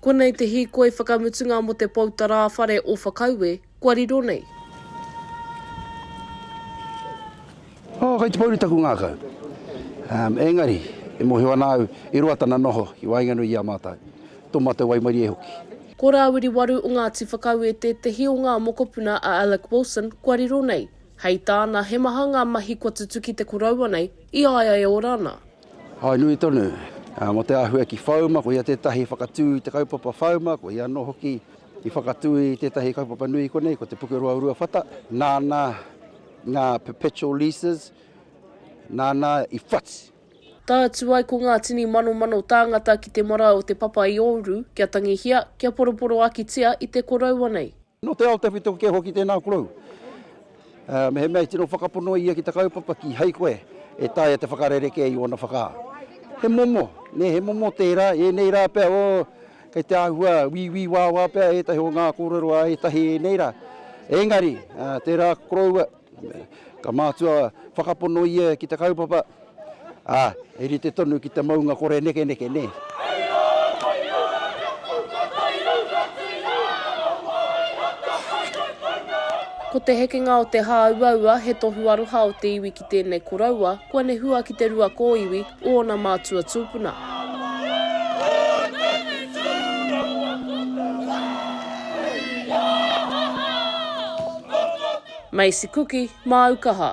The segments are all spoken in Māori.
Konei te hīkoi whakamutunga mō te pou tarā whare o Whakaue kua riro nei. Oh, kai te pouri taku ngākau. Um, engari, e mōhio ana au, i roa tana noho, i waenganui i a mātou. Tō mātou waimarie hoki. Ko Rāwiri Waru o Ngāti Whakaue tētehi o ngā mokopuna a Alec Wilson kua riro nei. Hei tāna, he maha ngā mahi kua tutuki te koroua nei, i a ia e ora ana. Hai nui tonu, ā, mō te āhua ki Whauma, ko ia tētahi i whakatū i te kaupapa Whauma, ko ia anō hoki i whakatū i tētahi kaupapa nui konei, ko Te Pukeroa o Ruawhata, nāna ngā perpetual leases, nāna i whati. Tae atu ai ko ngā tini manomano tāngata ki te marae o Te Papa-i-Ouru, kia tangihia, kia poroporoakitia i te koroua nei. Nō te ao tawhito kē hoki tēnā korou. Mehemea i tino whakapono ia ki te kaupapa, kīhai koe e taea te whakarerekē i ōna whakaaro. He momo, nē, he momo tērā, ēnei rā pea, o, kei te āhua wīwī wāwā pea ētahi o ngā kōrero a ētahi ēnei rā. Engari, tērā koroua. Ka mātua whakapono ia ki te kaupapa, ā, he rite tonu ki te maunga kore nekeneke, nē. Hei rā, hei rā, kia puta tae au ka tīnā aro māi a te hainatanga. Ko te hekenga o te hāuaua he tohu aroha o te iwi ki tēnei koroua, kua nehua ki te rua kōiwi, ōna mātua tūpuna. Macy Kuki, māu kaha.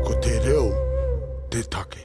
Ko te reo te take.